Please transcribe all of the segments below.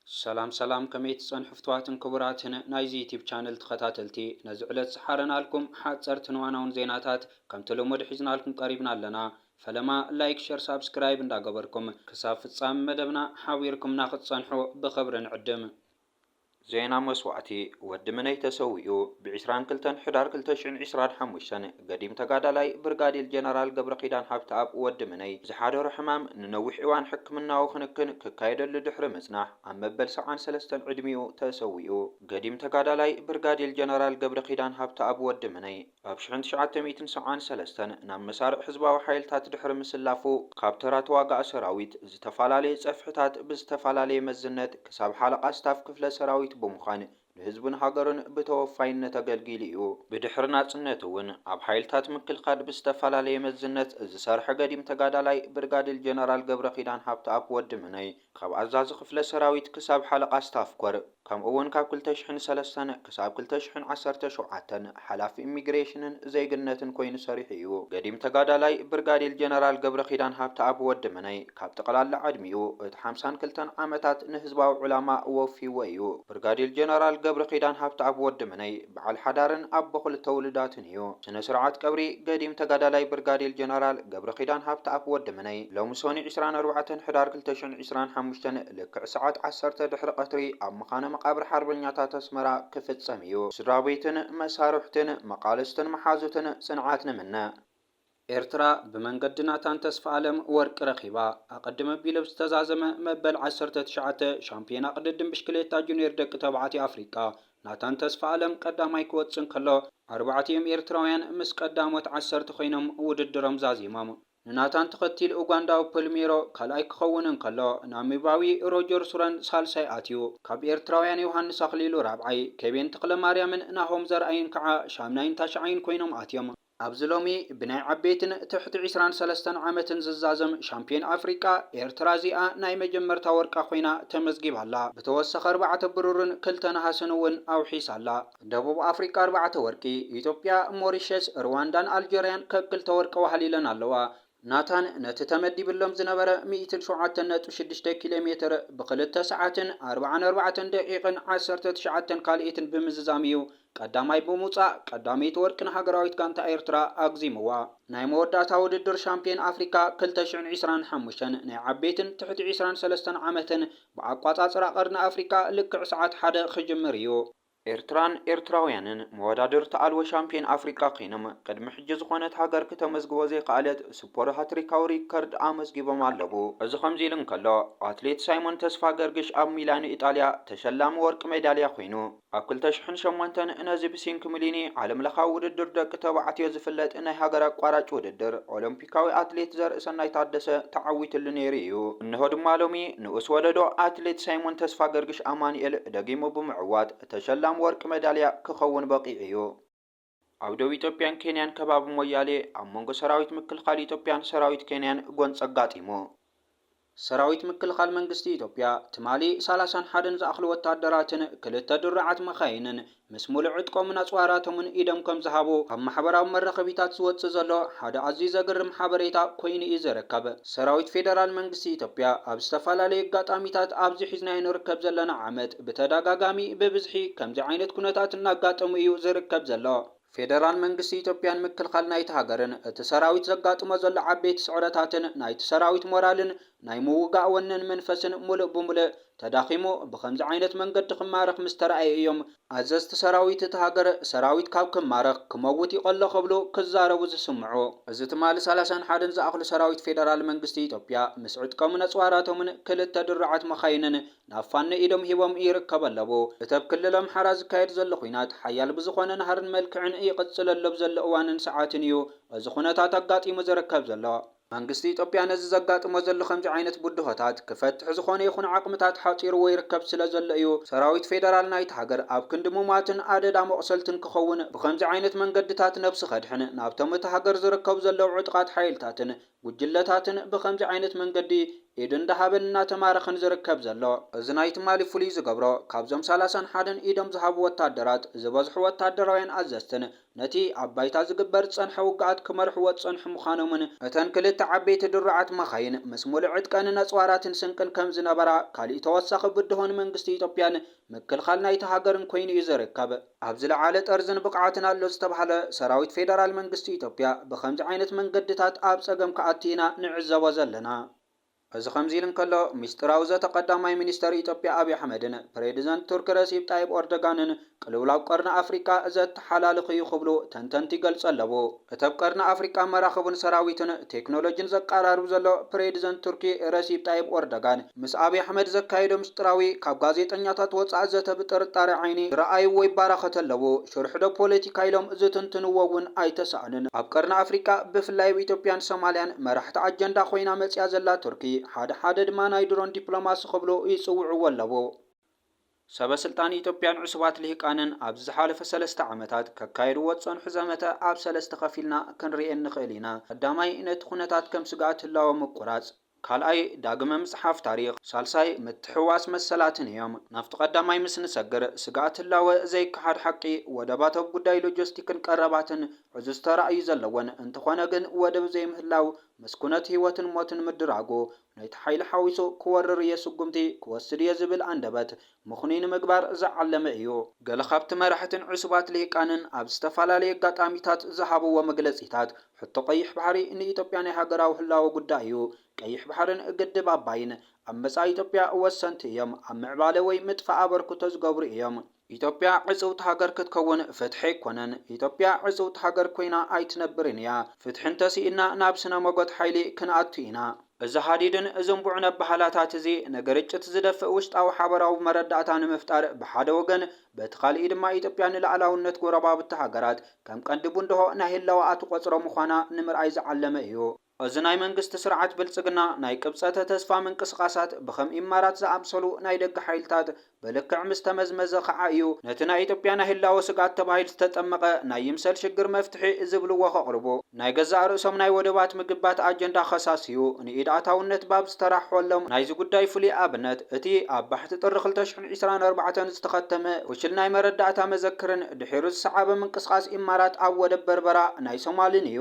ሰላም ሰላም ከመይ ትጸንሑ ፍትዋትን ክቡራትን ናይዚ ዩቲብ ቻነል ተኸታተልቲ ነዚ ዕለት ዝሓረናልኩም ሓጸርትን ዋናውን ዜናታት ከምቲ ልሙድ ሒዝናልኩም ቀሪብና ኣለና ፈለማ ላይክ ሸር ሳብስክራይብ እንዳገበርኩም ክሳብ ፍጻሚ መደብና ሓቢርኩምና ክትጸንሑ ብኽብሪ ንዕድም። ዜና መስዋእቲ ወዲ ምነይ ተሰዊኡ! ብ ዒስራን ክልተን ሕዳር ክልተ ሽሕን ዒስራን ሓሙሽተን፣ ገዲም ተጋዳላይ ብርጋዴል ጀነራል ገብረኪዳን ሃብተኣብ፣ ወዲ ምነይ፣ ዝሓደሮ ሕማም ንነዊሕ እዋን ሕክምናዊ ክንክን ክካየደሉ ድሕሪ ምጽናሕ፣ ኣብ መበል ሰብዓን ሰለስተን ዕድሚኡ ተሰዊኡ። ገዲም ተጋዳላይ ብርጋዴል ጀነራል ገብረኪዳን ሃብተኣብ፣ ወዲ ምነይ፣ ኣብ ሽሕን ትሽዓተ ሚእትን ሰብዓን ሰለስተን ናብ መሳርዕ ህዝባዊ ሓይልታት ድሕሪ ምስላፉ፣ ካብ ተራ ተዋጋኢ ሰራዊት፣ ዝተፈላለየ ጸፍሕታት ብዝተፈላለየ መዝነት ክሳብ ሓለቓ ስታፍ ክፍለ ሰራዊት ብምዃን ንህዝቡን ሃገሩን ብተወፋይነት ኣገልጊሉ እዩ። ብድሕሪ ናጽነት እውን ኣብ ሓይልታት ምክልካል ብዝተፈላለየ መዝነት ዝሰርሐ ገዲም ተጋዳላይ ብርጋዲል ጀነራል ገብረኪዳን ሃብተኣብ፣ ወዲ ምነይ፣ ካብ ኣዛዚ ክፍለ ሰራዊት ክሳብ ሓለቓ ስታፍ ኮር፣ ከምኡ እውን ካብ ክልተ ሽሕን ሰለስተን ክሳብ ክልተ ሽሕን ዓሰርተ ሸውዓተን ሓላፊ ኢሚግሬሽንን ዜግነትን ኮይኑ ሰሪሑ እዩ። ገዲም ተጋዳላይ ብርጋዲል ጀነራል ገብረኪዳን ሃብተኣብ፣ ወዲ ምነይ፣ ካብ ጠቕላላ ዕድሚኡ እቲ ሓምሳን ክልተን ዓመታት ንህዝባዊ ዕላማ ወፊዎ እዩ። ብርጋዴር ጀነራል ገብረኪዳን ሃብተኣብ ወዲ ምነይ በዓል ሓዳርን ኣቦ ክልተ ውሉዳትን እዩ። ስነ ስርዓት ቀብሪ ገዲም ተጋዳላይ ብርጋዴር ጀነራል ገብረኪዳን ሃብተኣብ ወዲ ምነይ ሎሚ ሶኑይ ዕስራን ኣርባዕተን ሕዳር ክልተ ሽሕን ዕስራን ሓሙሽተን ልክዕ ሰዓት ዓሰርተ ድሕሪ ቐትሪ ኣብ መኻነ መቓብር ሓርበኛታት ኣስመራ ክፍጸም እዩ። ስድራቤትን መሳርሕትን መቓልስትን መሓዙትን ጽንዓት ንምነ። ኤርትራ ብመንገዲ ናታን ተስፋኣለም ወርቂ ረኺባ። ኣቐድም ኣቢሉ ኣብ ዝተዛዘመ መበል ዓሰርተ ትሽዓተ ሻምፕዮና ቅድድም ብሽክሌታ ጁንየር ደቂ ተባዕትዮ ኣፍሪቃ፣ ናታን ተስፋኣለም ቀዳማይ ክወጽእ እንከሎ፣ ኣርባዕቲኦም ኤርትራውያን ምስ ቀዳሞት ዓሰርተ ኮይኖም ውድድሮም ዛዚሞም። ንናታን ተኸቲሉ ኡጋንዳዊ ፐልሜሮ ካልኣይ ክኸውን እንከሎ፣ ናሚባዊ ሮጀር ሱረን ሳልሳይ ኣትዩ። ካብ ኤርትራውያን ዮሃንስ ኣኽሊሉ ራብዓይ፣ ኬቤን ተኽለማርያምን ናሆም ዘርኣይን ከኣ ሻምናይን ታሽዓይን ኮይኖም ኣትዮም። ኣብዚ ሎሚ ብናይ ዓበይትን ትሕቲ ዕስራን ሰለስተን ዓመትን ዝዛዘም ሻምፕዮን ኣፍሪቃ ኤርትራ እዚኣ ናይ መጀመርታ ወርቃ ኮይና ተመዝጊባ ኣላ። ብተወሳኺ ኣርባዕተ ብሩርን ክልተ ነሃስን እውን ኣውሒሳ ኣላ። ደቡብ ኣፍሪቃ ኣርባዕተ ወርቂ፣ ኢትዮጵያ፣ ሞሪሸስ፣ ርዋንዳን ኣልጀርያን ከክልተ ወርቂ ዋህሊለን ኣለዋ። ናታን ነቲ ተመዲብሎም ዝነበረ ሚእትን ሸውዓተን ነጥቢ ሽዱሽተ ኪሎ ሜትር ብክልተ ሰዓትን ኣርብዓን ኣርባዕተን ደቂቕን ዓሰርተ ትሽዓተን ካልኢትን ብምዝዛም እዩ ቀዳማይ ብምውጻእ ቀዳመይቲ ወርቂ ንሃገራዊት ጋንታ ኤርትራ ኣግዚምዋ። ናይ መወዳእታ ውድድር ሻምፕዮን ኣፍሪካ ክልተ ሽሕን ዕስራን ሓሙሽተን ናይ ዓበይትን ትሕቲ ዕስራን ሰለስተን ዓመትን ብኣቋጻጽራ ቀርኒ ኣፍሪቃ ልክዕ ሰዓት ሓደ ክጅምር እዩ። ኤርትራን ኤርትራውያንን መወዳድርቲ ኣልቦ ሻምፕዮን ኣፍሪቃ ኴይኖም ቅድሚ ሕጂ ዝኾነት ሃገር ክተመዝግቦ ዘይኸኣለት ስፖር ሃትሪካዊ ሪከርድ ኣመዝጊቦም ኣለዉ። እዚ ከምዚ ኢሉ እንከሎ፣ ኣትሌት ሳይሞን ተስፋገርግሽ ኣብ ሚላኖ ኢጣልያ ተሸላሚ ወርቂ ሜዳልያ ኮይኑ፣ ኣብ ክልተ ሽሕን ሸሞንተን ነዚ ብሲንክምሊኒ ዓለምለኻዊ ውድድር ደቂ ተባዕትዮ ዝፍለጥ ናይ ሃገር ኣቋራጭ ውድድር ኦሎምፒክ፣ ኣፍሪካዊ ኣትሌት ዘርእሰናይ ታደሰ ተዓዊትሉ ነይሩ እዩ። እነሆ ድማ ሎሚ ንኡስ ወለዶ ኣትሌት ሳይሞን ተስፋገርግሽ ኣማኑኤል ደጊሙ ብምዕዋት ተሸላሚ ወርቂ መዳልያ ክኸውን በቒዑ እዩ። ኣብ ዶብ ኢትዮጵያን ኬንያን ከባቢ ሞያሌ ኣብ መንጎ ሰራዊት ምክልኻል ኢትዮጵያን ሰራዊት ኬንያን ጎንፂ ኣጋጢሙ። ሰራዊት ምክልኻል መንግስቲ ኢትዮጵያ ትማሊ ሰላሳን ሓደን ዝኣኽሉ ወታደራትን ክልተ ድሩዓት መኻይንን ምስ ሙሉእ ዕጥቆምን ኣፅዋራቶምን ኢዶም ከምዝሃቡ ኣብ ማሕበራዊ መራኸቢታት ዝወፅእ ዘሎ ሓደ ኣዝዩ ዘግርም ሓበሬታ ኮይኑ እዩ ዝርከብ። ሰራዊት ፌደራል መንግስቲ ኢትዮጵያ ኣብ ዝተፈላለዩ ኣጋጣሚታት ኣብዚ ሒዝናዮ ንርከብ ዘለና ዓመት ብተደጋጋሚ ብብዝሒ ከምዚ ዓይነት ኩነታት እናጋጠሙ እዩ ዝርከብ ዘሎ። ፌደራል መንግስቲ ኢትዮጵያ ንምክልኻል ናይቲ ሃገርን እቲ ሰራዊት ዘጋጥሞ ዘሎ ዓበይቲ ስዕረታትን ናይቲ ሰራዊት ሞራልን ናይ ምውጋእ ወነን መንፈስን ሙሉእ ብሙልእ ተዳኺሙ ብኸምዚ ዓይነት መንገዲ ክማረኽ ምስ ተራእየ እዮም ኣዘዝቲ ሰራዊት እቲ ሃገር ሰራዊት ካብ ክማረኽ ክመውት ይቐሎ ክብሉ ክዛረቡ ዝስምዑ። እዚ ትማሊ ሰላሳን ሓደን ዝኣኽሉ ሰራዊት ፌደራል መንግስቲ ኢትዮጵያ ምስ ዕጥቀሙን ኣፅዋራቶምን ክልተ ድሩዓት መኻይንን ናብ ፋኖ ኢዶም ሂቦም ይርከቡ ኣለዉ። እቲ ኣብ ክልል ኣምሓራ ዝካየድ ዘሎ ኹናት ሓያል ብዝኾነ ናህርን መልክዕን ይቕጽል ኣሎ ብዘሎ እዋንን ሰዓትን እዩ እዚ ኹነታት ኣጋጢሙ ዝርከብ ዘሎ። መንግስቲ ኢትዮጵያ ነዚ ዘጋጥሞ ዘሎ ከምዚ ዓይነት ብድሆታት ክፈትሕ ዝኾነ ይኹን ዓቕምታት ሓጺርዎ ይርከብ ስለ ዘሎ እዩ ሰራዊት ፌደራል ናይታ ሃገር ኣብ ክንዲ ሙማትን ኣደዳ መቑሰልትን ክኸውን ብኸምዚ ዓይነት መንገድታት ነብሱ ከድሕን ናብቶም እታ ሃገር ዝርከቡ ዘለዉ ዕጡቓት ሓይልታትን ጉጅለታትን ብኸምዚ ዓይነት መንገዲ ኢድ እንዳሃበን እናተማረኸን ዝርከብ ዘሎ። እዚ ናይ ትማሊ ፍሉይ ዝገብሮ ካብዞም ሰላሳን ሓደን ኢዶም ዝሃቡ ወታደራት ዝበዝሑ ወታደራውያን ኣዘዝትን ነቲ ኣብ ባይታ ዝግበር ዝጸንሐ ውግኣት ክመርሕዎ ዝጸንሑ ምዃኖምን፣ እተን ክልተ ዓበይቲ ድሩዓት መኻይን ምስ ሙሉእ ዕጥቀንን ኣጽዋራትን ስንቅን ከምዝነበራ ካሊእ ተወሳኺ ብድሆ ንመንግስቲ ኢትዮጵያን ምክልኻል ናይታ ሃገርን ኮይኑ እዩ ዝርከብ። ኣብ ዝለዓለ ጠርዝን ብቕዓትን ኣሎ ዝተብሃለ ሰራዊት ፌደራል መንግስቲ ኢትዮጵያ ብኸምዚ ዓይነት መንገድታት ኣብ ፀገም ክኣቲ ኢና ንዕዘቦ ዘለና። እዚ ከምዚ ኢሉ እንከሎ፣ ሚስጢራዊ ዘተ ቀዳማይ ሚኒስተር ኢትዮጵያ ኣብይ ኣሕመድን ፕሬዝደንት ቱርኪ ረሲፕ ጣይብ ኦርደጋንን ቅልውላው ቀርኒ ኣፍሪቃ ዘተሓላልኽ እዩ ክብሉ ተንተንቲ ይገልፁ ኣለዉ። እቲ ኣብ ቀርኒ ኣፍሪቃ መራኽቡን ሰራዊትን ቴክኖሎጂን ዘቃራርብ ዘሎ ፕሬድዘንት ቱርኪ ረሲብ ጣይብ ኦርደጋን ምስ ኣብይ ኣሕመድ ዘካየዶ ምስጢራዊ ካብ ጋዜጠኛታት ወጻኢ ዘተ ብጥርጣረ ዓይኒ ዝረኣይዎ ይባራኸት ኣለዉ። ሽርሕዶ ፖለቲካ ኢሎም ዝትንትንዎ እውን ኣይተሳእኑን። ኣብ ቀርኒ ኣፍሪቃ ብፍላይ ኣብ ኢትዮጵያን ሶማልያን መራሕቲ ኣጀንዳ ኮይና መጺኣ ዘላ ቱርኪ ሓደ ሓደ ድማ ናይ ድሮን ዲፕሎማሲ ክብሉ ይጽውዕዎ ኣለዉ። ሰበስልጣን ኢትዮጵያን ዕሱባት ልሂቃንን ኣብዚ ዝሓለፈ ሰለስተ ዓመታት ከካይድዎ ዝጸንሑ ዘመተ ኣብ ሰለስተ ከፊልና ክንርኤ እንኽእል ኢና። ቀዳማይ፣ ነቲ ኩነታት ከም ስግኣት ህላወ ምቁራጽ። ካልኣይ፣ ዳግመ ምጽሓፍ ታሪኽ። ሳልሳይ፣ ምትሕውዋስ መሰላትን እዮም። ናብቲ ቀዳማይ ምስ ንሰግር፣ ስግኣት ህላወ ዘይከሓድ ሓቂ፣ ወደባት ኣብ ጉዳይ ሎጀስቲክን ቀረባትን ዕዙዝ ተራ እዩ ዘለወን። እንተኾነ ግን ወደብ ዘይምህላው ምስ ኩነት ህይወትን ሞትን ምድራጉ ነቲ ሓይሊ ሓዊሱ ክወርር እየ ስጉምቲ ክወስድ እየ ዝብል ኣንደበት ምኽኑይ ንምግባር ዝዓለመ እዩ። ገለ ካብቲ መራሕትን ዕሱባት ልሂቃንን ኣብ ዝተፈላለየ ኣጋጣሚታት ዝሃብዎ መግለጺታት፣ ሕቶ ቀይሕ ባሕሪ ንኢትዮጵያ ናይ ሃገራዊ ህላወ ጉዳይ እዩ፣ ቀይሕ ባሕርን ግድብ ኣባይን ኣብ መጻኢ ኢትዮጵያ ወሰንቲ እዮም፣ ኣብ ምዕባለ ወይ ምጥፋእ ኣበርክቶ ዝገብሩ እዮም፣ ኢትዮጵያ ዕጽውቲ ሃገር ክትከውን ፍትሒ ኣይኮነን። ኢትዮጵያ ዕጽውቲ ሃገር ኮይና ኣይትነብርን እያ። ፍትሒ እንተስኢንና ናብ ስነ ሞጎት ሓይሊ ክንኣቱ ኢና። እዚ ሃዲድን ዝንቡዕን ኣበሃህላታት እዚ ንግርጭት ዝደፍእ ውሽጣዊ ሓበራዊ መረዳእታ ንምፍጣር ብሓደ ወገን፣ በቲ ካልእይ ድማ ኢትዮጵያ ንልኣላውነት ጎረባብቲ ሃገራት ከም ቀንዲ ቡንድሆ ናይ ህላወኣ ትቆጽሮ ምዃና ንምርኣይ ዝዓለመ እዩ። እዚ ናይ መንግስቲ ስርዓት ብልጽግና ናይ ቅብጸተ ተስፋ ምንቅስቓሳት ብከም ኢማራት ዝኣምሰሉ ናይ ደገ ሓይልታት ብልክዕ ምስ ተመዝመዘ ከኣ እዩ ነቲ ናይ ኢትዮጵያ ናይ ህላወ ስግኣት ተባሂል ዝተጠመቐ ናይ ይምሰል ሽግር መፍትሒ ዝብልዎ ከቕርቡ። ናይ ገዛእ ርእሶም ናይ ወደባት ምግባት ኣጀንዳ ከሳስዩ ንኢድ ኣታውነት ባብ ዝተራሕሖሎም ናይዚ ጉዳይ ፍሉይ ኣብነት እቲ ኣብ ባሕቲ ጥሪ ክልተ ሽሕን ዒስራን ኣርባዕተን ዝተኸተመ ፍሹል ናይ መረዳእታ መዘክርን ድሒሩ ዝሰዓበ ምንቅስቓስ ኢማራት ኣብ ወደብ በርበራ ናይ ሶማልን እዩ።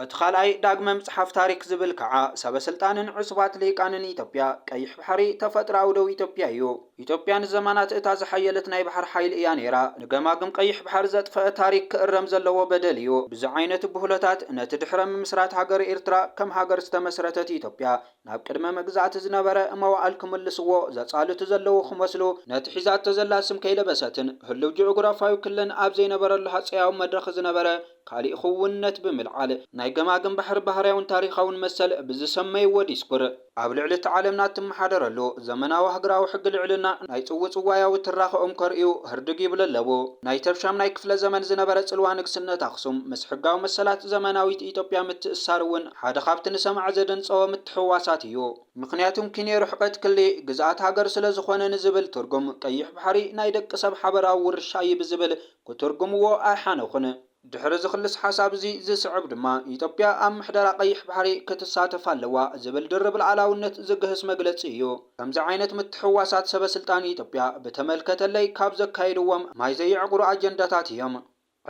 እቲ ካልኣይ ዳግመ ምጽሓፍ ታሪክ ዝብል ካዓ ሰበ ስልጣንን ዕሱባት ሊሂቃንን ኢትዮጵያ ቀይሕ ባሕሪ ተፈጥሮኣዊ ዶብ ኢትዮጵያ እዩ። ኢትዮጵያ ንዘማናት እታ ዝሓየለት ናይ ባሕር ሓይል እያ ነይራ። ንገማግም ቀይሕ ባሕር ዘጥፈኣ ታሪክ ክእረም ዘለዎ በደል እዩ። ብዚ ዓይነት ብሁለታት ነቲ ድሕረ ምምስራት ሃገረ ኤርትራ ከም ሃገር ዝተመስረተት ኢትዮጵያ ናብ ቅድመ መግዛእቲ ዝነበረ መዋእል ክምልስዎ ዘጻልቱ ዘለዉ ክመስሉ ነቲ ሒዛቶ ዘላ ስም ከይለበሰትን ህሉው ጂኦግራፋዊ ክለን ኣብ ዘይነበረሉ ሃጸያዊ መድረክ ዝነበረ ካሊእ ኽውንነት ብምልዓል ናይ ገማግም ባሕሪ ባህርያውን ታሪኻውን መሰል ብዝሰመይዎ ዲስኩር፣ ኣብ ልዕሊ እቲ ዓለምና እትመሓደረሉ ዘመናዊ ሃገራዊ ሕጊ ልዕልና ናይ ጽውጽዋያዊ ትራኸኦም ከርእዩ ህርድግ ይብሉ ኣለዉ። ናይቲ ኣብ ሻምናይ ክፍለ ዘመን ዝነበረ ጽልዋ ንግስነት ኣኽሱም ምስ ሕጋዊ መሰላት ዘመናዊት ኢትዮጵያ ምትእስሳር እውን ሓደ ካብቲ ንሰማዒ ዘደንጸወ ምትሕውዋሳት እዩ። ምኽንያቱም ኪንዮ ርሕቀት ክሊ ግዝኣት ሃገር ስለዝኾነ ንዝብል ትርጉም ቀይሕ ባሕሪ ናይ ደቂ ሰብ ሓበራዊ ውርሻ እዩ ብዝብል ክትርጉምዎ ኣይሓነኹን። ድሕሪ እዚ ክልስ ሓሳብ እዚ ዝስዕብ ድማ ኢትዮጵያ ኣብ ምሕደራ ቀይሕ ባሕሪ ክትሳተፍ ኣለዋ ዝብል ድርብ ልኣላውነት ዝግህስ መግለጺ እዩ። ከምዚ ዓይነት ምትሕውዋሳት ሰበ ስልጣን ኢትዮጵያ ብተመልከተለይ ካብ ዘካይድዎም ማይ ዘየዕቑሩ ኣጀንዳታት እዮም።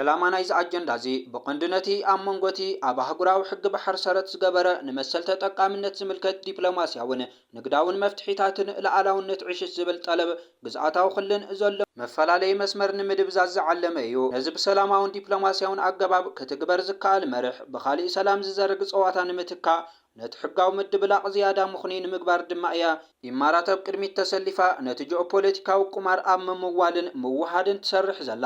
ዕላማ ናይዚ ኣጀንዳ እዚ ብቐንዱ ነቲ ኣብ መንጎ እቲ ኣብ ኣህጉራዊ ሕጊ ባሕር ሰረት ዝገበረ ንመሰል ተጠቃምነት ዝምልከት ዲፕሎማሲያውን ንግዳውን መፍትሒታትን ልኣላውነት ዕሽሽ ዝብል ጠለብ ግዝኣታዊ ክልን ዘሎ መፈላለዪ መስመር ንምድብዛዝ ዝዓለመ እዩ። ነዚ ብሰላማውን ዲፕሎማሲያውን ኣገባብ ክትግበር ዝከኣል መርሕ ብኻሊእ ሰላም ዝዘርግ ፀዋታ ንምትካእ ነቲ ሕጋዊ ምድብላቕ ዝያዳ ምኽኑይ ንምግባር ድማ እያ ኢማራት ኣብ ቅድሚት ተሰሊፋ ነቲ ጂኦፖለቲካዊ ቁማር ኣብ ምምዋልን ምውህሃድን ትሰርሕ ዘላ።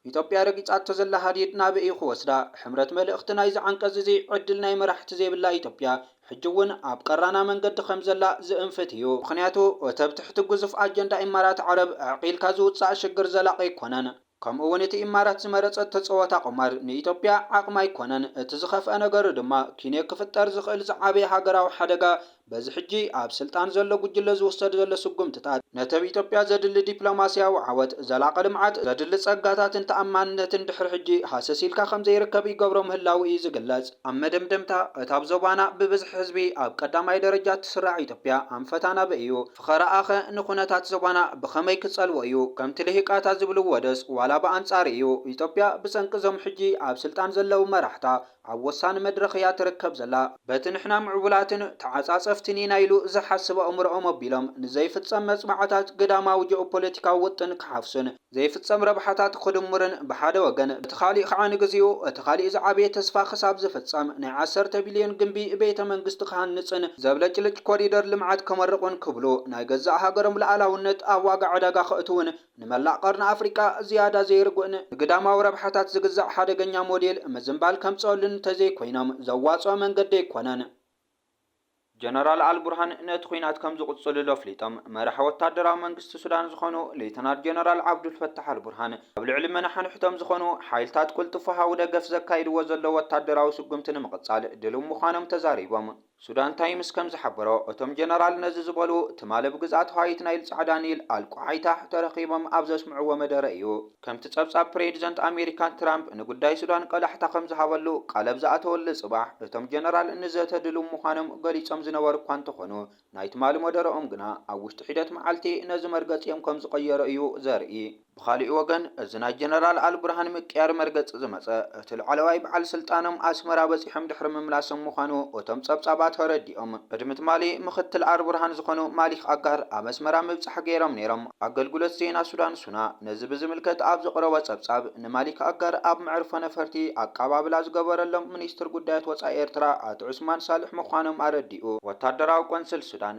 ኢትዮጵያ ረጊጻቶ ዘላ ሃዲድ ናበይ'ዩ ክወስዳ? ሕምረት መልእኽቲ ናይዚ ዓንቀጽ'ዚ፣ ዕድል ናይ መራሕቲ ዘይብላ ኢትዮጵያ፣ ሕጂ'ውን ኣብ ቀራና መንገዲ ከም ዘላ ዝእንፍት ኢዩ። ምኽንያቱ፣ እቲ ኣብ ትሕቲ ግዙፍ ኣጀንዳ ኢማራት ዓረብ ኣዕቚልካ ዝውጻእ ሽግር ዘላቒ ኣይኮነን። ከምኡ'ውን እቲ ኢማራት ዝመረጸቶ ጸወታ ቁማር፣ ንኢትዮጵያ ዓቕማ ኣይኮነን። እቲ ዝኸፍኣ ነገር ድማ፣ ኪንዮ ክፍጠር ዝኽእል ዝዓበየ ሃገራዊ ሓደጋ በዚ ሕጂ ኣብ ስልጣን ዘሎ ጉጅለ ዝውሰድ ዘሎ ስጉምትታት፣ ነተብ ኢትዮጵያ ዘድሊ ዲፕሎማሲያዊ ዓወት፣ ዘላቒ ልምዓት፣ ዘድሊ ጸጋታትን ተኣማንነትን ድሕሪ ሕጂ ሃሰስ ኢልካ ከምዘይርከብ ይገብሮ ምህላዉ እዩ ዝግለጽ። ኣብ መደምደምታ፣ እታ ኣብ ዞባና ብብዝሒ ህዝቢ ኣብ ቀዳማይ ደረጃ እትስራዕ ኢትዮጵያ ኣንፈታ ናበይ እዩ? ፍኸራኣ'ኸ ንኩነታት ዞባና ብኸመይ ክጸልዎ እዩ? ከምቲ ልሂቃታ ዝብልዎ'ዶስ ዋላ ብኣንጻሩ እዩ? ኢትዮጵያ ብሰንኪ እዞም ሕጂ ኣብ ስልጣን ዘለዉ መራሕታ፣ ኣብ ወሳኒ መድረኽ እያ ትርከብ ዘላ። በቲ ንሕና ምዕቡላትን ተዓጻጸፍትን ኢና ኢሉ ዝሓስብ ኣእምሮኦም ኣቢሎም ንዘይፍጸም መጽብዓታት ግዳማዊ ጂኦፖለቲካዊ ውጥን ክሓፍሱን ዘይፍጸም ረብሓታት ክድምሩን ብሓደ ወገን፣ በቲ ካሊእ ከዓ ንግዚኡ እቲ ካሊእ ዝዓበየ ተስፋ ክሳብ ዝፍጸም ናይ ዓሰርተ ቢልዮን ግምቢ ቤተ መንግስቲ ክሃንጽን ዘብለጭልጭ ኮሪደር ልምዓት ከመርቑን ክብሉ ናይ ገዛእ ሃገሮም ልኣላውነት ኣብ ዋጋ ዕዳጋ ከእትዉን ንመላእ ቀርኒ ኣፍሪቃ ዝያዳ ዘይርጉእን ንግዳማዊ ረብሓታት ዝግዛእ ሓደገኛ ሞዴል ምዝንባል ከምጽኦሉ እንተዘይኮይኖም ዘዋጽኦ መንገዲ ኣይኮነን። ጀነራል ኣልቡርሃን ነቲ ኲናት ከም ዝቕጽሉሉ ኣፍሊጦም። መራሒ ወታደራዊ መንግስቲ ሱዳን ዝዀኑ ሌተናል ጀነራል ዓብዱልፈታሕ ኣልቡርሃን፣ ኣብ ልዕሊ መናሓንሕቶም ዝዀኑ ሓይልታት ቅልጡፍ ወሃቢ ደገፍ ዘካይድዎ ዘለዉ ወታደራዊ ስጕምቲ ንምቕጻል ድሉው ምዃኖም ተዛሪቦም። ሱዳን ታይምስ ከም ዝሓበሮ፣ እቶም ጀነራል ነዚ ዝበሉ፣ ትማሊ ኣብ ግዝኣት ሃይት ናይል ጻዕዳ ኒል፣ ኣል ቁሓይታሕ፣ ተረኺቦም ኣብ ዘስምዕዎ መደረ እዩ። ከምቲ ጸብጻብ ፕሬዚደንት ኣሜሪካ ትራምፕ ንጉዳይ ሱዳን ቆላሕታ ከም ዝሃበሉ ቃል ኣብ ዝኣተወሉ ጽባሕ፣ እቶም ጀነራል ንዘተ ድሉው ምዃኖም ገሊጾም ዝነበሩ እኳ እንተኾኑ፣ ናይ ትማሊ መደረኦም ግና ኣብ ውሽጢ ሒደት መዓልቲ ነዚ መርገጺኦም ከም ዝቐየሩ እዩ ዘርኢ። ብኻሊእ ወገን እዚ ናይ ጀነራል ኣልቡርሃን ምቅያር መርገጺ ዝመጸ እቲ ላዕለዋይ በዓል ስልጣኖም ኣስመራ በጺሖም ድሕሪ ምምላሶም ምዃኑ እቶም ጸብጻባት ኣረዲኦም። ቅድሚ ትማሊ ምኽትል ኣልቡርሃን ዝኾኑ ማሊክ ኣጋር ኣብ ኣስመራ ምብጻሕ ገይሮም ነይሮም። ኣገልግሎት ዜና ሱዳን ሱና ነዚ ብዝምልከት ኣብ ዘቕረቦ ጸብጻብ ንማሊክ ኣጋር ኣብ መዕርፎ ነፈርቲ ኣቀባብላ ዝገበረሎም ሚኒስትር ጉዳያት ወጻኢ ኤርትራ ኣቶ ዑስማን ሳልሕ ምዃኖም ኣረዲኡ። ወታደራዊ ቆንስል ሱዳን፣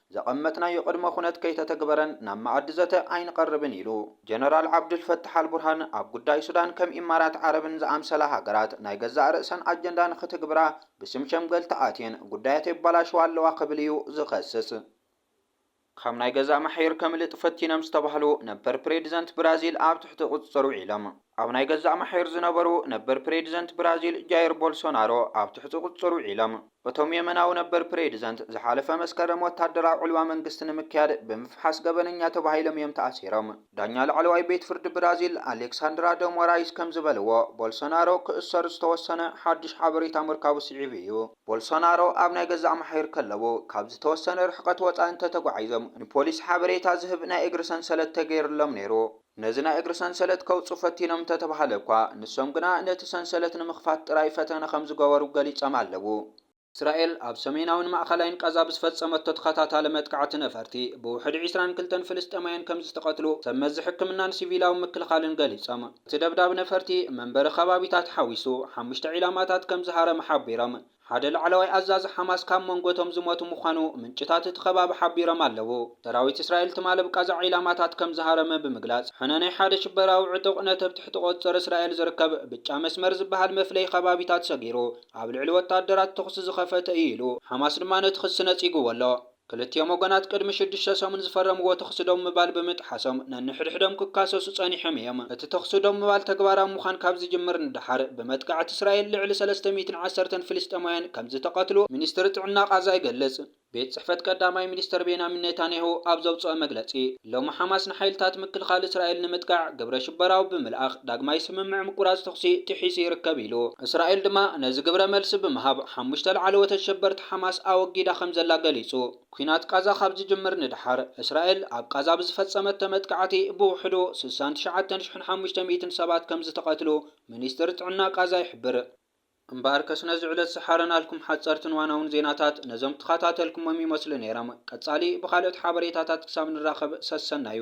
ዘቐመጥናዮ ቅድመ ኩነት ከይተተግበረን ናብ መኣዲ ዘተ ኣይንቐርብን ኢሉ። ጀነራል ዓብዱል ፈታሕ ኣልቡርሃን ኣብ ጉዳይ ሱዳን ከም ኢማራት ዓረብን ዝኣምሰላ ሃገራት ናይ ገዛእ ርእሰን ኣጀንዳ ንኽትግብራ ብስም ሸምገልቲ ኣትየን ጉዳያት የባላሽዋ ኣለዋ ክብል እዩ ዝኸስስ። ካብ ናይ ገዛእ ማሕዩር ከምልጥ ፈቲኖም ዝተባህሉ ነበር ፕሬድዘንት ብራዚል ኣብ ትሕቲ ቁፅፅር ውዒሎም። ኣብ ናይ ገዛእ ማሕዩር ዝነበሩ ነበር ፕሬዲዘንት ብራዚል ጃይር ቦልሶናሮ ኣብ ትሕቲ ቁፅፅር ውዒሎም። እቶም የመናዊ ነበር ፕሬዲዘንት ዝሓለፈ መስከረም ወታደራዊ ዕልዋ መንግስቲ ንምክያድ ብምፍሓስ ገበነኛ ተባሂሎም እዮም ተኣሲሮም። ዳኛ ላዕለዋይ ቤት ፍርዲ ብራዚል ኣሌክሳንድራ ደ ሞራይዝ ከምዝበልዎ ቦልሶናሮ ክእሰር ዝተወሰነ ሓዱሽ ሓበሬታ ምርካቡ ስዒቡ እዩ። ቦልሶናሮ ኣብ ናይ ገዛእ ማሕዩር ከለዉ ካብ ዝተወሰነ ርሕቐት ወፃኢ እንተተጓዒዞም ንፖሊስ ሓበሬታ ዝህብ ናይ እግሪ ሰንሰለት ተገይርሎም ነይሩ። ነዚ ናይ እግሪ ሰንሰለት ከውጽኡ ፈቲኖም እንተተባህለ እኳ፣ ንሶም ግና ነቲ ሰንሰለት ንምኽፋት ጥራይ ፈተነ ከም ዝገበሩ ገሊጾም ኣለዉ። እስራኤል ኣብ ሰሜናዊን ማእከላይን ቓዛ ብዝፈጸመቶ ተኸታታሊ መጥቃዕቲ ነፈርቲ፣ ብውሕዲ ዕስራን ክልተን ፍልስጤማውያን ከም ዝተቐትሉ ሰብ መዚ ሕክምናን ሲቪላዊ ምክልኻልን ገሊጾም። እቲ ደብዳብ ነፈርቲ፣ መንበሪ ከባቢታት ሓዊሱ ሓሙሽተ ዒላማታት ከም ዝሃረመ ሓቢሮም። ሓደ ላዕለዋይ ኣዛዚ ሓማስ ካብ መንጎ'ቶም ዝሞቱ ምዃኑ ምንጭታት እቲ ከባቢ ሓቢሮም ኣለዉ። ሰራዊት እስራኤል ትማሊ ኣብ ቓዛ ዒላማታት ከም ዝሃረመ ብምግላጽ፣ ሕነ ናይ ሓደ ሽበራዊ ዕጡቕ ነቲ ኣብ ትሕቲ ቁጽጽር እስራኤል ዝርከብ ብጫ መስመር ዝበሃል መፍለዪ ከባቢታት ሰጊሩ ኣብ ልዕሊ ወተሃደራት ተኹሲ ዝኸፈተ እዩ ኢሉ። ሓማስ ድማ ነቲ ክሲ ነጺግዎ ኣሎ። ክልቲኦም ወገናት ቅድሚ ሽዱሽተ ሰሙን ዝፈረምዎ ተዅሲ ደው ምባል ብምጥሓሶም ነንሕድሕዶም ክካሰሱ ጸኒሖም እዮም። እቲ ተዅሲ ደው ምባል ተግባራዊ ምዃን ካብ ዝጅምር ንደሓር፣ ብመጥቃዕቲ እስራኤል ልዕሊ ሰለስተ ሚእትን ዓሰርተን ፍልስጤማውያን ከም ዝተቐትሉ፣ ሚኒስትሪ ጥዕና ቓዛ ይገልጽ። ቤት ጽሕፈት ቀዳማይ ሚኒስተር ቤንያሚን ኔታንያሁ ኣብ ዘውጽኦ መግለጺ፣ ሎሚ ሓማስ ንሓይልታት ምክልኻል እስራኤል ንምጥቃዕ ግብረሽበራዊ ብምልኣኽ ዳግማይ ስምምዕ ምቁራጽ ተኹሲ ጥሒሱ ይርከብ ኢሉ። እስራኤል ድማ ነዚ ግብረ መልሲ ብምሃብ ሓሙሽተ ላዕለዎት ኣሸበርቲ ሓማስ ኣወጊዳ ከምዘላ ገሊጹ። ኲናት ቓዛ ካብ ዝጅምር ንደሓር፣ እስራኤል ኣብ ቓዛ ብዝፈጸመቶ መጥቃዕቲ ብውሕዱ ስሳን ትሽዓተን ሽሕን ሓሙሽተ ሚእትን ሰባት ከምዝተቐትሉ ሚኒስትሪ ጥዕና ቓዛ ይሕብር። እምበኣርከስ ነዚ ዕለት ዝሓረናልኩም ሓጸርትን ዋናውን ዜናታት ነዞም ተኸታተልኩሞም ይመስሉ ነይሮም። ቀጻሊ ብኻልኦት ሓበሬታታት ክሳብ ንራኸብ ሰሰናዩ።